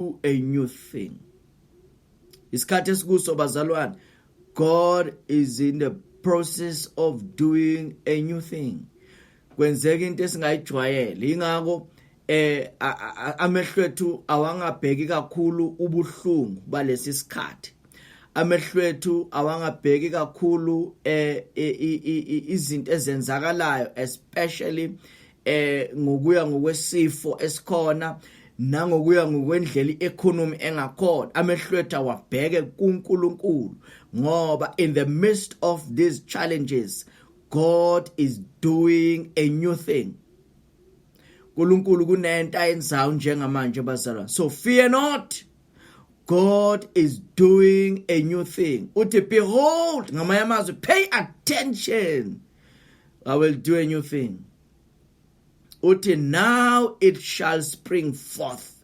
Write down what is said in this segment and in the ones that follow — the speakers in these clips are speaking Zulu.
do a new thing isikhathi esikuso bazalwane god is in the process of doing a new thing kwenzeka into esingayijwayele ingakho eh amehlo ethu awangabheki kakhulu ubuhlungu balesi sikhathi amehlo ethu awangabheki kakhulu eh izinto ezenzakalayo especially eh ngokuya ngokwesifo esikhona nangokuya ngokwendlela i-economy engakhona amehlwethu awabheke kuNkulunkulu ngoba in the midst of these challenges God is doing a new thing uNkulunkulu kunento ayenzayo njengamanje bazalwane so fear not God is doing a new thing. Uthi behold ngamanye amazwi pay attention. I will do a new thing. Uthi now it shall spring forth.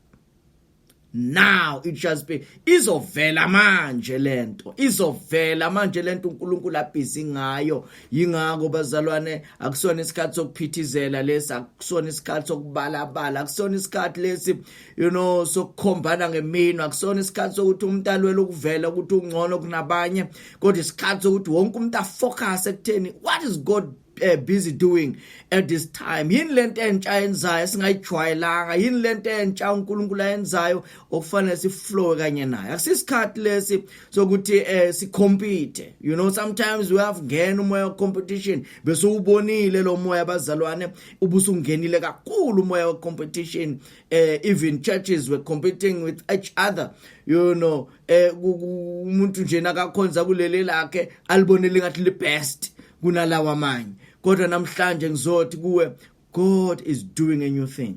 Now it shall spring. Izovela manje lento. Izovela manje lento uNkulunkulu abhizi ngayo. Yingakho bazalwane akusona isikhathi sokuphithizela lesi, akusona isikhathi sokubalabala, akusona isikhathi lesi you know sokukhombana ngemino akusona isikhathi sokuthi umuntu alwele ukuvela ukuthi ungcono kunabanye kodwa isikhathi sokuthi wonke umuntu afocus ekutheni what is god uh, busy doing at this time yini lento entsha yenzayo singayijwayelanga yini lento entsha uNkulunkulu ayenzayo okufanele siflow kanye naye akusisikhathi lesi sokuthi eh sicompete you know sometimes we have ngena umoya of competition bese ubonile lo moya bazalwane ubusungenile kakhulu umoya of competition uh, even churches were competing with each other you know eh, umuntu nje nakakhonza kuleli lakhe alibonele ngathi li best kunalawa amanye kodwa namhlanje ngizothi kuwe God is doing a new thing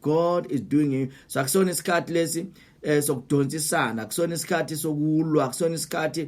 God is doing a so akusona isikhathi lesi eh sokudonsisana akusona isikhathi sokulwa akusona isikhathi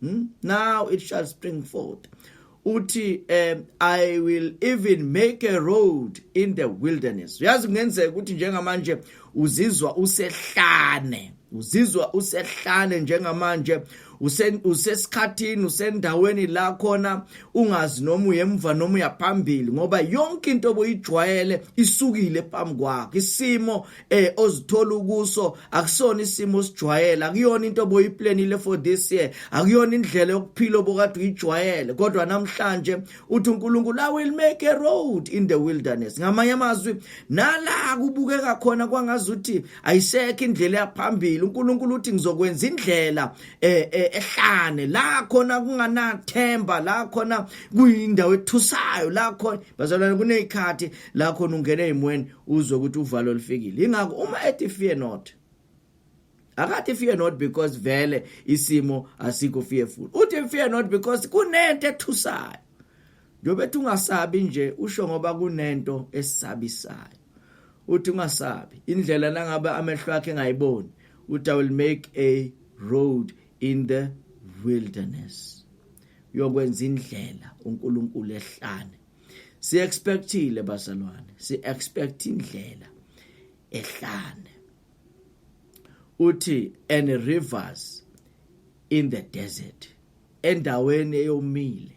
Hmm? Now it shall spring forth. Uthi um, I will even make a road in the wilderness. Uyazi kungenzeka ukuthi njengamanje uzizwa usehlane. Uzizwa usehlane njengamanje usesikhathini usendaweni la khona ungazi noma uyemva noma uyaphambili ngoba yonke into obuyijwayele isukile phambi kwakho isimo eh ozithola ukuso akusona isimo osijwayele akuyona into boyiplanile for this year akuyona indlela yokuphila obokade uyijwayele kodwa namhlanje uthi uNkulunkulu I will make a road in the wilderness ngamanye amazwi nala kubukeka khona kwangazuthi ayisekho indlela yaphambili uNkulunkulu uthi ngizokwenza indlela eh, eh, ehlane la khona kunganathemba la khona kuyindawo ethusayo la khona bazalwane kunezikhathi la khona ungene emweni uzwe ukuthi uvalo lifikile ingakho uma ethi fear not akathi fear not because vele isimo asikho fearful uthi fear not because kunento ethusayo njengoba ethi ungasabi nje usho ngoba kunento esabisayo uthi ungasabi indlela nangabe amehlo akhe engayiboni uthi i will make a road in the wilderness uyokwenza indlela uNkulunkulu ehlane si expectile bazalwane si expect indlela ehlane uthi and rivers in the desert endaweni eyomile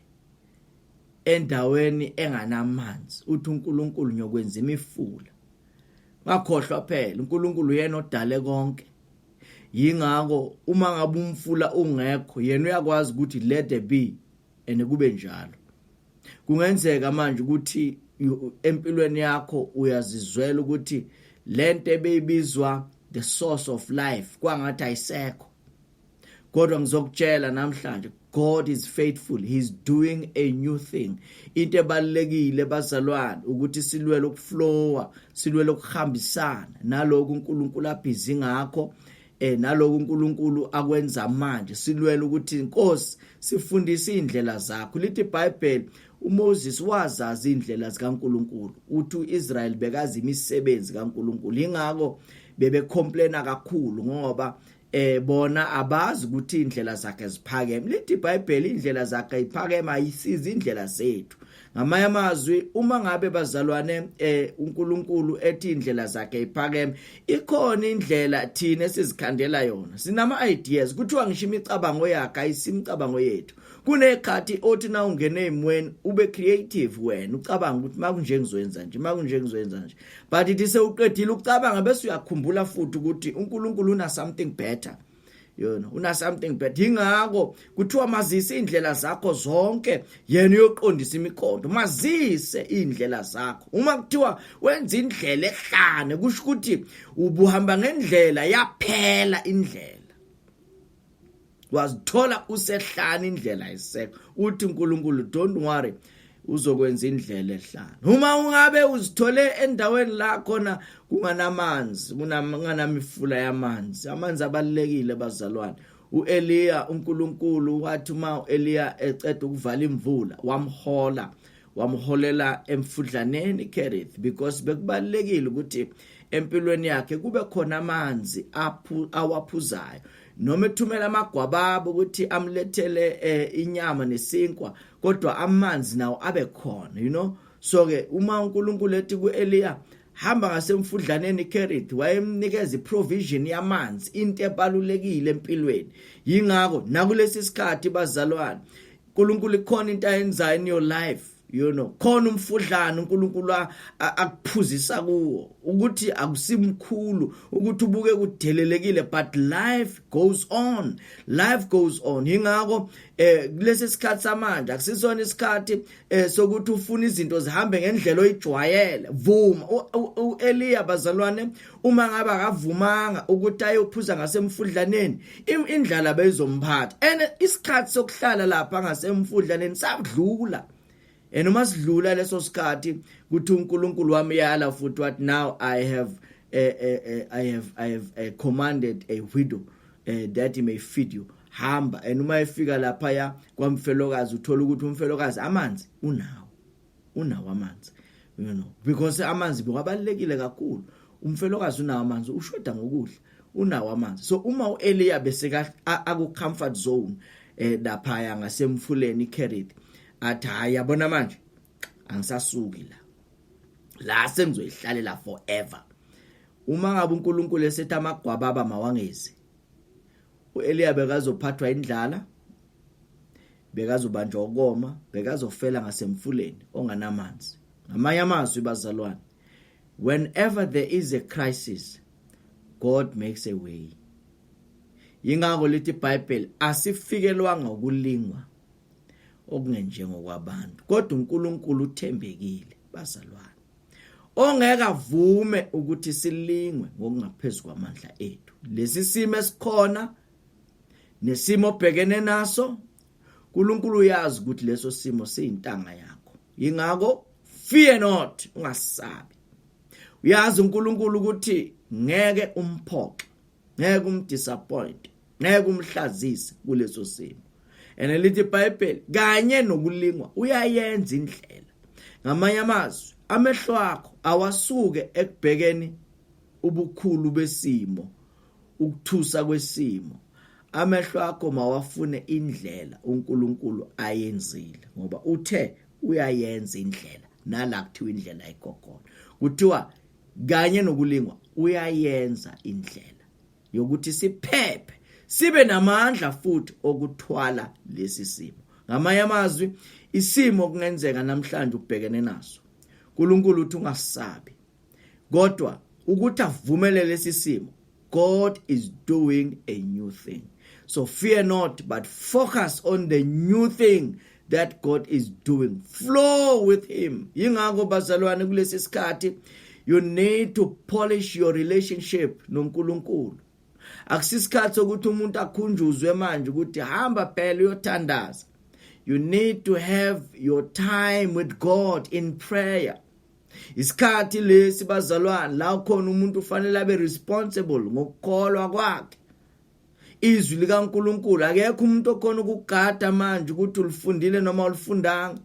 endaweni enganamanzi uthi uNkulunkulu ngiyokwenza imifula ngakhohlwa phela uNkulunkulu yena odale konke yingakho uma ngabe umfula ungekho yena uyakwazi ukuthi let there be and kube njalo kungenzeka manje ukuthi empilweni yakho uyazizwela ukuthi lento ebeyibizwa the source of life kwangathi ayisekho kodwa ngizokutshela namhlanje God is faithful he's doing a new thing into ebalekile bazalwane ukuthi silwele ukuflowa silwele ukuhambisana naloko uNkulunkulu abhizi ngakho eh naloku uNkulunkulu akwenza manje silwela ukuthi inkosi sifundise indlela zakho lithi iBhayibheli uMoses wazazi indlela zikaNkulunkulu uthi uIsrael bekazi imisebenzi kaNkulunkulu ingakho bebe complaina kakhulu ngoba eh bona abazi ukuthi indlela zakhe ziphakeme lithi iBhayibheli indlela zakhe iphakeme ayisizi indlela zethu ngamanye amazwi uma ngabe bazalwane eh uNkulunkulu ethi indlela zakhe iphakeme ikhona indlela thina esizikhandela yona sinama ideas kuthiwa ngisho imicabango yakhe ayisimicabango yethu kunekhathi othi na ungene emweni ube creative wena ucabanga ukuthi makunje ngizoyenza nje makunje ngizoyenza nje but ithi sewuqedile ukucabanga bese uyakhumbula futhi ukuthi uNkulunkulu una something better yona una something bad ingakho kuthiwa mazise indlela zakho zonke yena uyoqondisa imikondo mazise indlela zakho uma kuthiwa wenza indlela ehlane kusho ukuthi ubuhamba ngendlela yaphela indlela wazithola usehlani indlela isekho uthi uNkulunkulu don't worry uzokwenza indlela ehlala uma ungabe uzithole endaweni la khona kunganamanzi kunanamifula yamanzi amanzi abalekile bazalwane uEliya uNkulunkulu wathi uma uEliya eceda ukuvala imvula wamhola wamholela emfudlaneni Kerith because bekubalekile ukuthi empilweni yakhe kube khona amanzi aphu awaphuzayo noma ethumela amagwababa ukuthi amlethele eh, inyama nesinkwa kodwa amanzi nawo abe khona you know so ke uma uNkulunkulu ethi kuEliya hamba ngasemfudlaneni Kerith wayemnikeza iprovision yamanzi into ebalulekile empilweni yingakho nakulesi sikhathi bazalwane uNkulunkulu ikhona into ayenzayo in your life you know khona umfudlana uNkulunkulu akuphuzisa kuwo ukuthi akusimkhulu ukuthi ubuke kudelelekile but life goes on life goes on ingakho eh kulesi sikhathi samanje akusisona isikhathi eh sokuthi ufuna izinto zihambe ngendlela oyijwayele vuma uEliya bazalwane uma ngabe akavumanga ukuthi ayophuza ngasemfudlaneni indlala beyizomphatha and isikhathi sokuhlala lapha ngasemfudlaneni sakudlula and uma sidlula leso sikhathi kuthi uNkulunkulu wami yala futhi what now i have uh, uh, uh, i have i have uh, commanded a widow uh, that he may feed you hamba and uma efika lapha ya kwamfelokazi uthola ukuthi umfelokazi amanzi unawo unawo amanzi you know because amanzi bekabalekile kakhulu umfelokazi unawo amanzi ushoda ngokudla unawo amanzi so uma uEliya beseka aku comfort zone eh lapha ya ngasemfuleni iCarit athi hayi yabona manje angisasuki la la sengizoyihlalela forever uma ngabe uNkulunkulu esethi amagwababa mawangezi uEliya bekazophathwa indlala bekazobanjwa ukoma bekazofela ngasemfuleni onganamanzi ngamanye amazwi bazalwane whenever there is a crisis god makes a way yingakho lithi ibhayibheli asifikelwanga ukulingwa okungenjengokwabantu kodwa uNkulunkulu uthembekile bazalwane ongeke avume ukuthi silingwe ngokungaphezu kwamandla ethu lesi simo esikhona nesimo obhekene naso uNkulunkulu uyazi ukuthi leso simo siyintanga yakho ingakho fear not ungasabi uyazi uNkulunkulu ukuthi ngeke umphoxe ngeke umdisappoint ngeke umhlazise kuleso simo and lithi iBhayibheli kanye nokulingwa uyayenza indlela ngamanye amazwi amehlo akho awasuke ekubhekeni ubukhulu besimo ukuthusa kwesimo amehlo akho mawafune indlela uNkulunkulu ayenzile ngoba uthe uyayenza indlela nala kuthiwa indlela ayikho khona kuthiwa kanye nokulingwa uyayenza indlela yokuthi siphephe sibe namandla futhi okuthwala lesi simo ngamanye amazwi isimo kungenzeka namhlanje ubhekene naso uNkulunkulu uthi ungasabi kodwa ukuthi avumelele lesi simo God is doing a new thing. So fear not, but focus on the new thing that God is doing. Flow with him. Yingakho bazalwane kulesi sikhathi you need to polish your relationship noNkulunkulu. Akusisikhathi sokuthi umuntu akhunjuzwe manje ukuthi hamba phela uyothandaza. You need to have your time with God in prayer. isikhathi lesi bazalwane la khona umuntu ufanele abe responsible ngokukholwa kwakhe izwi likaNkuluNkulu akekho umuntu okhona ukugada manje ukuthi ulifundile noma ulifundanga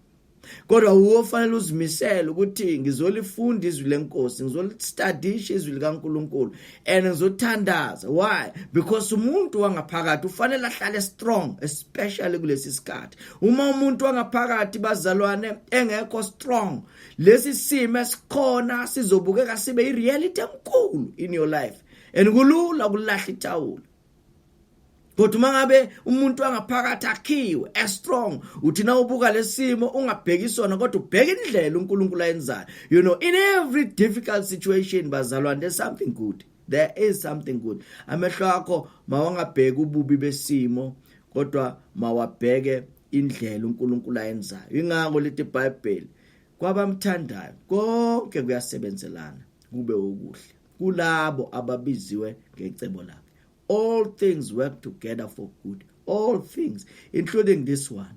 kodwa uwo fanele uzimisele ukuthi ngizolifunda izwi lenkosi ngizolistadisha izwi likaNkuluNkulu and ngizothandaza why because umuntu wangaphakathi ufanele ahlale strong especially kulesi sikhathi uma umuntu wangaphakathi bazalwane engekho strong lesi simo esikhona sizobukeka sibe ireality enkulu in your life and kulula ukulahla ithawula kodwa uma ngabe umuntu angaphakathi akhiwe as strong uthi na ubuka lesimo ungabheki sona kodwa ubheke indlela uNkulunkulu ayenzayo you know in every difficult situation bazalwane there's something good there is something good amehlo akho mawangabheki ububi besimo kodwa mawabheke indlela uNkulunkulu ayenzayo ingakho leti bible kwabamthandayo konke kuyasebenzelana kube okuhle kulabo ababiziwe ngecebo lakhe all things work together for good all things including this one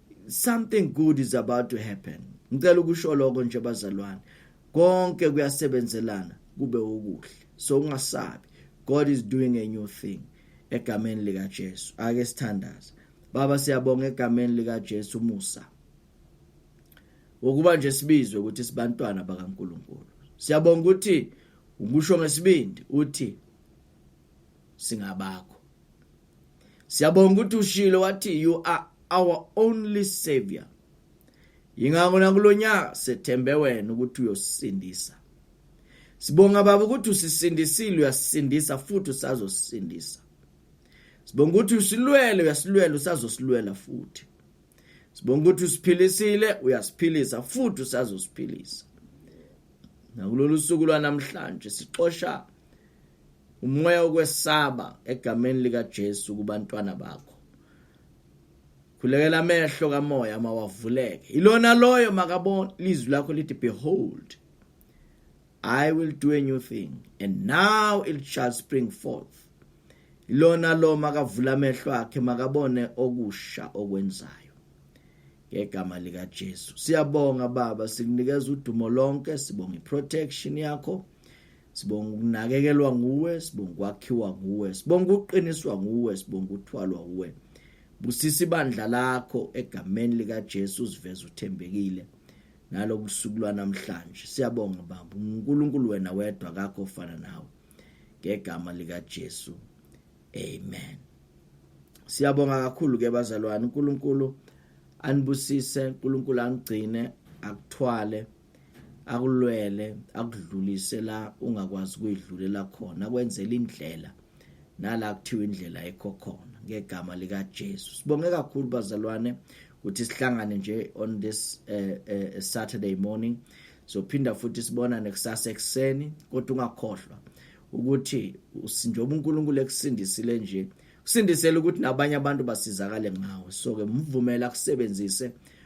something good is about to happen ngicela ukusho lokho nje bazalwane konke kuyasebenzelana kube okuhle so ungasabi god is doing a new thing egameni lika Jesu ake sithandaze baba siyabonga egameni lika Jesu umusa ukuba nje sibizwe ukuthi sibantwana bakaNkuluNkulu siyabonga ukuthi ukusho ngesibindi uthi singabakho siyabonga ukuthi ushilo wathi you are our only savior yingakho nakulonyaka sethembe wena ukuthi uyosindisa sibonga baba ukuthi usisindisile uyasindisa futhi usazosindisa sibonga ukuthi usilwele uyasilwela usazosilwela futhi sibonga ukuthi usiphilisile uyasiphilisa futhi usazosiphilisa nakulolu suku lwanamhlanje sixosha Umoya wokwesaba egameni likaJesu kubantwana bakho. Khulekela amehlo kamoya mawavuleke. Ilona loyo makabona lizwi lakho lithi behold I will do a new thing and now it shall spring forth. Ilona lo makavula amehlo akhe makabone okusha okwenzayo. Ngegama lika Jesu. Siyabonga baba sikunikeza udumo lonke sibonga iprotection yakho. sibonga ukunakekelwa nguwe sibonga ukwakhiwa nguwe sibonga ukuqiniswa nguwe sibonga ukuthwalwa nguwe busisa ibandla lakho egameni likaJesu uziveza uthembekile nalobusuku lwanamhlanje siyabonga baba uNkulunkulu wena wedwa kakho ofana nawe ngegama likaJesu amen siyabonga kakhulu ke bazalwane uNkulunkulu anibusise uNkulunkulu angigcine akuthwale akulwele akudlulise la ungakwazi kuyidlulela khona kwenzela indlela nala kuthiwa indlela ekho khona ngegama lika Jesu sibonge kakhulu bazalwane ukuthi sihlangane nje on this uh, uh, Saturday morning sophinda futhi sibonane kusasa ekseni kodwa ungakhohlwa ukuthi njengoba uNkulunkulu ekusindisile nje kusindisela ukuthi nabanye abantu basizakale ngawe so ke mvumela kusebenzise